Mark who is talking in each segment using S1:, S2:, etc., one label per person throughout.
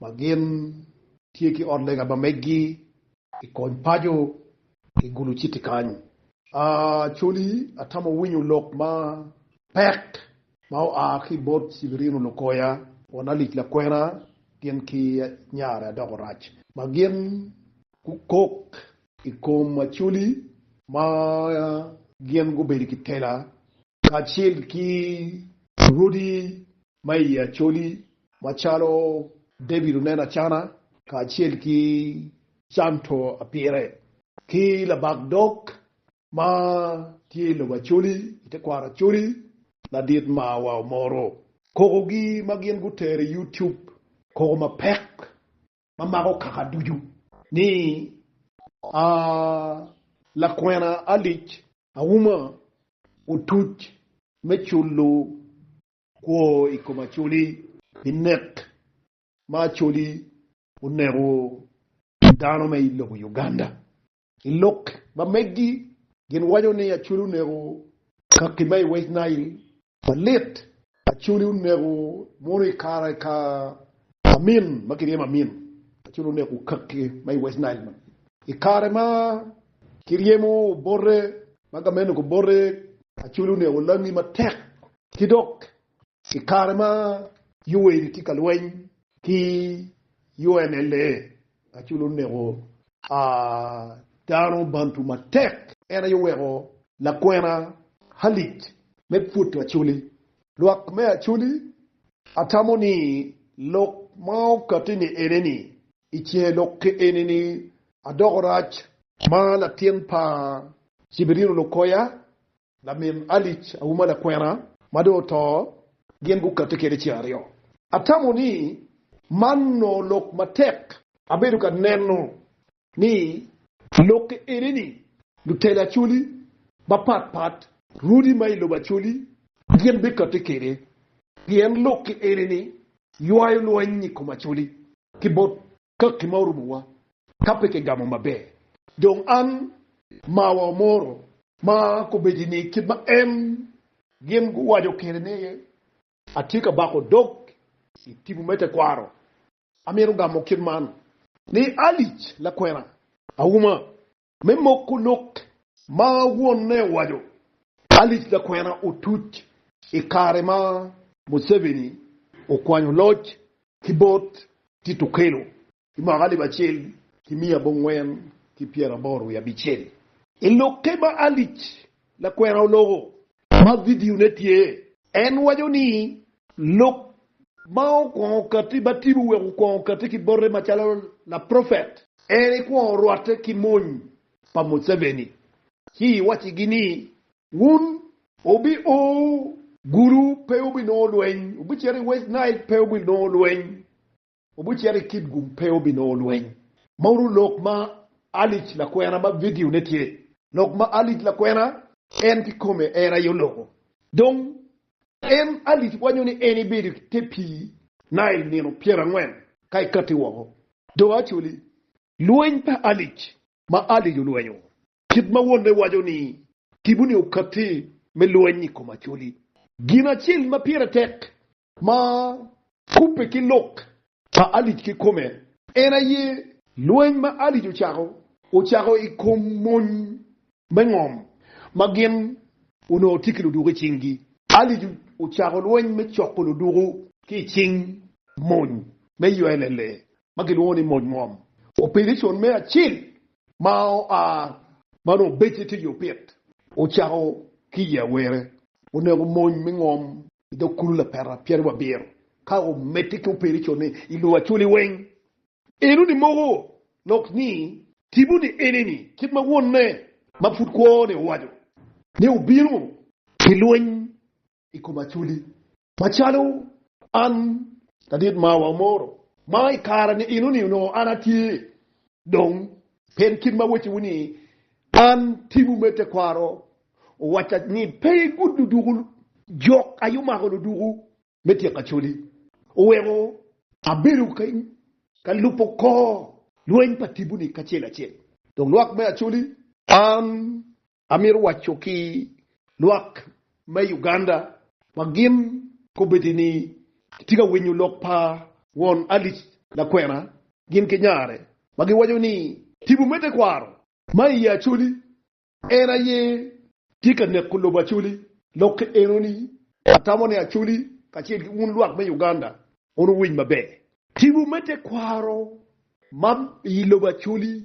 S1: ma gin tye ki ot lega ma meggi i kony paco i Gulu Citi kany. Acoli atamo winyo lok ma pek ma oa ki i bot Sibirino Lukoya won Alic Lakwena gin ki nyare Adoko Rac ma gin gukok i kom Acoli ma gin gubedo ki tela kacel ki rodi ma i Acholi macalo David Onen Acana kacel ki Canto Apire ki labak dog ma tye i lobo Acholi i tekwaro Acholi ladit ma wa omoro. Kokogi ma gin gutero i YouTube koko mapek ma mako kaka ducu ni, A lakwena alic auma otuc me culo kwo i kom Acholi pi nek ma Acholi oneko dano me i lobo Uganda. I lok ma megi, gin waco ni Acholi oneko kaki ma i West Nile. Malit! Acholi oneko mono i kare ka Amin ma kiryemo Amin. Acholi oneko kaki ma i West Nile man i kare ma kiryemo Obote ma gamennog Obote. Acholi oneko langi matek ki dok I kare ma Yoweri tye ka lweny ki UNLA, Acholi oneko dano Bantu matek. En aye oweko lakwena Halic me pwodo Acholi. Lwak me Acholi atamo ni lok ma okati-ni eneni, I cinge lok ki enini adoko rac. Ma latin pa Cibirino Lukoya Lamin Alic awu ma lakwena ma dong oto gin gukati kede ceng aryo. Atamo ni man onongo lok matek. Abedo ka neno ni lokke enini lutelo Acholi mapat pat, rwodi ma i lobo Acholi gin bikati kede pien lokke enini ywayo lweny i kom Acholi ki bot ka gin ma orumowa ka pe kigamo maber. Dong an marwa omoro ma kobedi-ni kit ma en gin guwaco kwede ni atye ka bako dog i tipo me tekwaro. Amito gamo kit man ni, Alic, lakwena, auma me moko lok ma wonne owaco, Alice Lakwena otuc i kare ma Museveni okwanyo loc ki bot Tito Okello i mwaka alip acel ki miya abongwen ki pyeraboro wiye abicel. I lokke ma Alice Lakwena oloko Ma vidione tye. En waco ni, Lok ma okwongo katti ba tibu wek okwongo katti ki bote macalo laprofet. En ikwongo rwatte ki mony pa Museveni ci iwaccigi ni, Wun. Wubi o Gulu, pe wubinongo lweny, wubicito i West Nile, pe wubinongo lweny, Obucito i kit gum pe obinongo lweny. Mauru lok ma Alice lakwena ma vidio ne tye. Lok ma Alice lakwena en kikome en aye oloko. Dong en Alice wanyo ni en ibedo i te pii Nile nino pyera angwen ka ikati woko. Do Acholi. Lweny pa Alice ma Alice olwenyo kit ma wonne waco ni tipo ni okati me lweny i kom Acholi. Gin acel ma pire tek Ma kubbe ki lok pa Alic kikome en aye. Lweny ma Alic ocako ocako i kom mony me ngom ma gin onongo tye ki luduku i cinggi. Alic ocako lweny me coko luduku ki i cing mony me ULLA ma kilwongo ni mony ngom, opelecon me acel ma oa ma onongo becce tye i opit ocako ki i awere. Onego mony me ngom I dog kulu lapeta pyeraryo abiro ka omedde ki operico ni i lur acoli weng, eno ni moko lok ni tipo ni ene ni kit ma wonne ma pud kwo ni owaco ni obino pi lweny i kom acoli macalo an ladit mawa omoro ma i kare ni eno ni onongo an atye dong Pien kit ma wacciwu ni, 'An timwu me tekwaro, owacca ni, 'Pe igud luduku jok aye omako luduku me tyeko Acholi, oweko abedo ka lubo kor lweny pa tipo-ni kacel acel, dok lwak me Acholi. An Amito waco ki lwak me Uganda wa gin kobedi ni kitye ka winyo lok pa won Alice lakwena gin ki nyare ma giwaco ni tipo me tekwaro ma iye Acholi en aye tye ka neko lobo Acholi. Lok eno ni atamo ni Acholi kacel ki wun lwak me Uganda wun wuwiny maber. Tipo me tekwaro ma ilobo Acholi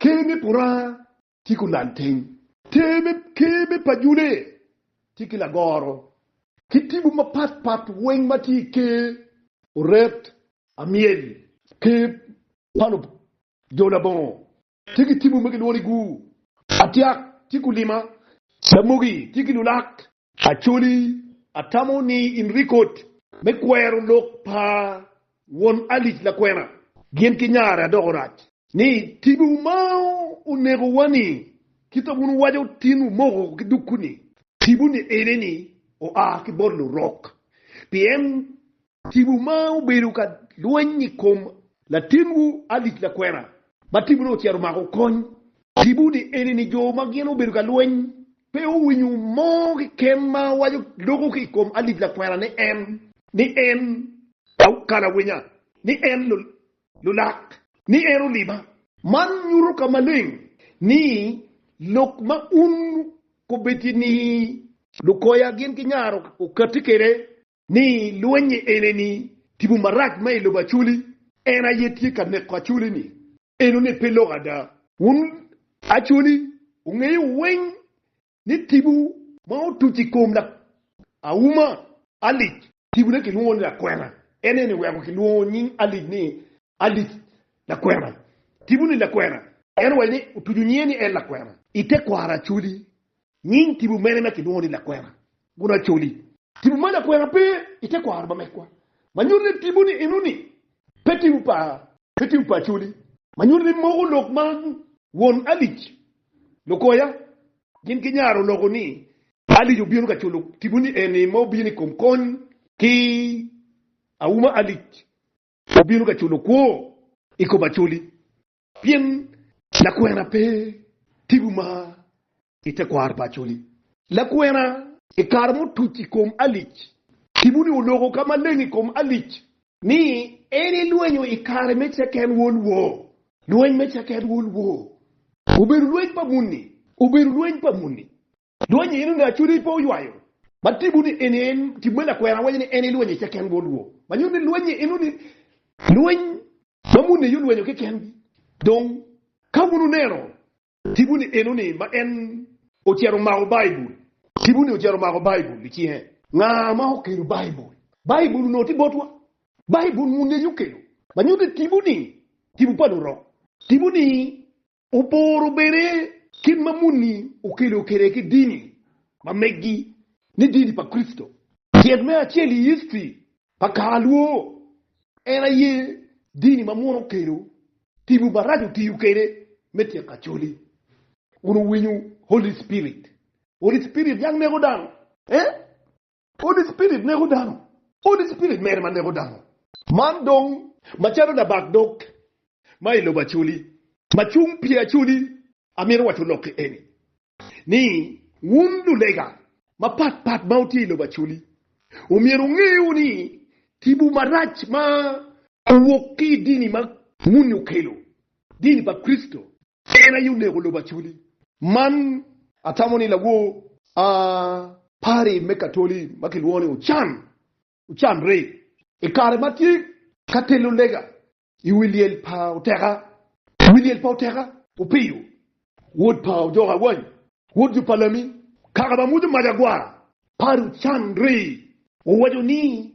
S1: Ker me Puranga tye ki olal teng. Ker me Pajule tye ki lagoro ki tipo mapat pat weng ma tye i ker oret amyel. Ker pa lub jo labongo tye ki tipo ma kilwongo ni Gu. Atyak tye ki olima. Lamogi tye ki lulak. Acholi, atamo ni in rik oti. Me kwero lok pa won Alice lakwena gin ki nyare adoko rac. Ni tibi wu ma oneko wa ni kit a wun wuwaco tin wu moko ki dukku ni. Tibu ni ene ni oa ki bot lurok. Pien Tipo ma obedo ka lweny i kom latinwu Alice Lakwena ma tipo ne ocito omako kony tipo ni eni ni jo ma gin obedo ka lweny pe owinyo mo keken ma waco loko ki i kom Alice Lakwena ni en ni en kalawinya, ni en lulak, ni en oliba. Man nyuto ka maleng ni lok ma un kobeti ni lukoya gin ki nyaro okati kede ni lwenyi eneni tipo marac ma i lobo Acoli, en aye tye ka neko Acoli-ni enoni pe lok ada. Wun Acoli, wungeyo weng ni tipo ma otuc i kom auma alic, tipone kilwongo ni lakwena, en eni weko kilwongo nying alic ni alic lakwena. Tipo-ni lakwena, en owaco ni otuco nyinge ni en lakwena i tekwaro Acoli Nying tipo mene ma kilwongo ni lakwena Gunacoli? Tipo me lakwena pe i tekwaro ma megwa ma nyuto ni tipo ni enoni pe tipo pa pe tipo pa Acoli ma nyuto ni moko lok ma won Alic Lukoya gin ginyaro oloko ni Alic obino ka culo tipo ni eni ma obino i kom kony ki auma Alic obino ka culo kwo i kom Acoli Pien lakwena pe tipo ma i tekwaro pa Acholi. Lakwena. I kare mutuc i kom Alic, tipo-ni oloko ka maleng i kom Alic. Ni en elwenyo i kare me Second World War, Lweny me Second World War. Obedo lweny pa muni. Obedo lweny pa muni. Lweny eni onongo acude i po ywayo. Ma timo ni eni en tim me lakwena awaco ni en ilweny ice ken bot rwo. Ma nyuto ni lweny ni eno ni lweny ma muni aye olwenyo keken gi. Dong ka wun wuneno timo ni eno ni ma en ocito omako Baibul, timo ni ocito omako Baibul i cinge. Nga ma okelo Baibul? Baibul onongo tye botwa. Baibul muni aye okelo. Ma nyuto ni timo ni timo pa lurok. Timo ni Oporo bene kit ma muni okelo kwede ki dini ma meggi ni dini pa Kricito. Tyet me acel i history pa kare lwor en aye dini ma munu okelo tipo maraco otiyo kwede me tyeko Acholi. Wun wuwinyo Holy Spirit, Holy Spirit yang neko dano eh? Holy Spirit neko dano. Holy Spirit mere ma neko dano. Man dong macalo labak dog ma i lobo Acholi ma cung pi Acholi amito waco lokki eni ni wun lulega mapat pat ma wutye i lobo Acholi omyero wunge o ni tipo marac ma owok ki i dini ma muni okelo, dini pa Kricito, En aye oneko lobo aculi. Man atamo ni lawor a pari me Katoli ma kilwongo ni Ochan ocan re. I kare ma atye ka telo lega i wi lyel pa Oteka, wi lyel pa Oteka, Opiyo, wod pa Ojok Awany, wod jo pa Lami, kaka ma mwodo mac agwar, pari ocan re, owaco ni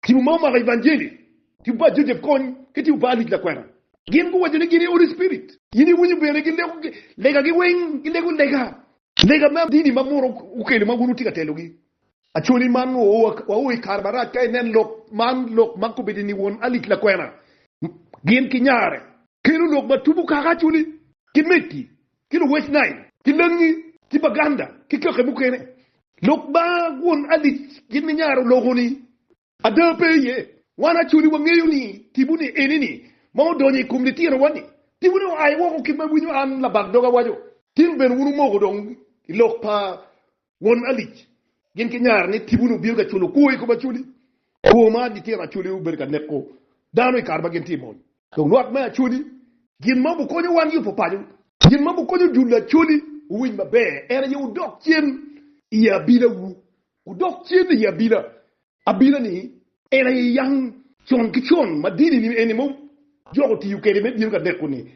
S1: Tipo ma omako Evangeli ki bad Joseph kony ki tipo pa Alic Lakwena. Gin guwaco ni gin i Holy Spirit. In iwinyo bene gileko legagi weng? Gileko lega, lega ma dini ma munu okelo ma wun wutye ka telogi. Acholi man wao i kare marac ka inen lok man, lok ma kobedi ni won Alic Lakwena gin ki nyare kelo lok ma tubo kaka acholi ki megi. ki luwec Nail, ki langi, ki baganda, ki kake mukene. Lok ba won alic gin ninyaro loko ni. Ada pe iye. Wan acoli wangeyo ni tipo ni eni ni ma odonyo i kom litino wa ni. Tipo ni oaye woko ki ma winyo an labag doga waco. Tin ben wun omoko dong i lok pa Won alic, gin ki nyar ni tibu ni obino ka culo kwo i kom Acholi. Kwo ma litino Acholi obedo ka neko dano i kare ma gin tye i mony. Dong lwak me Acholi gin ma obukonyo wan yubo paco. Gin ma obukonyo jul Acholi owiny maber en aye wudok cen i abila wu. Wudok cen i abila. Abila ni en aye yang. Con ki con ma dini eni ma jok otiyo kwede me bino ka neko ni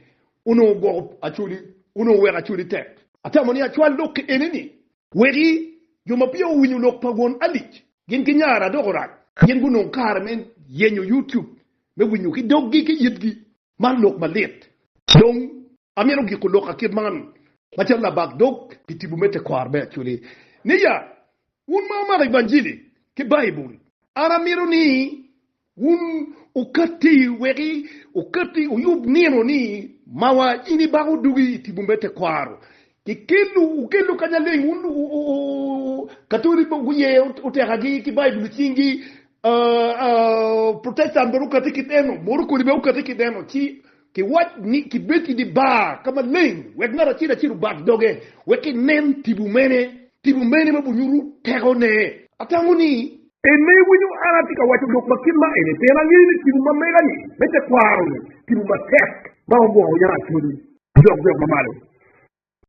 S1: onongo gwoko Acholi, onongo weko Acholi tek. Atamo ni acwal lok ki eni ni weki jo ma peya owinyo lok pa Won Alic gin ki nyara dok orac pien gunongo kare me yenyo YouTube me winyo ki doggi ki yitgi. Man lok malit. Dong amito giko loka kit man macalo labak dog pi tipo me tekwaro me Acholi ni ya Wun ma wumako evanjili ki Baibul, an amito ni wun wukatti wek wukatti wuyub nino ni mawa in ibako dugi i tipo me tekwaro. Kikello, wukello kanya leng wun Katoli ma guye otekagi ki Baibul i cingi, Protestant bene gukatti ki deno, Morokoni bene gukatti ki deno, ci Kiwac ni, Kibed i dye bar ka maleng, wek ngat acel acel obat doge, wek kinen tipo mene, tipo mene ma binyuto tekone. Atamo ni. En ma iwinyo an atye ka waco lok ma kit ma eni pien angeyo ni tipo ma mega-ni me tekwaro-ni, tipo matek ma ogwoko yam acolli dok dok mamalo.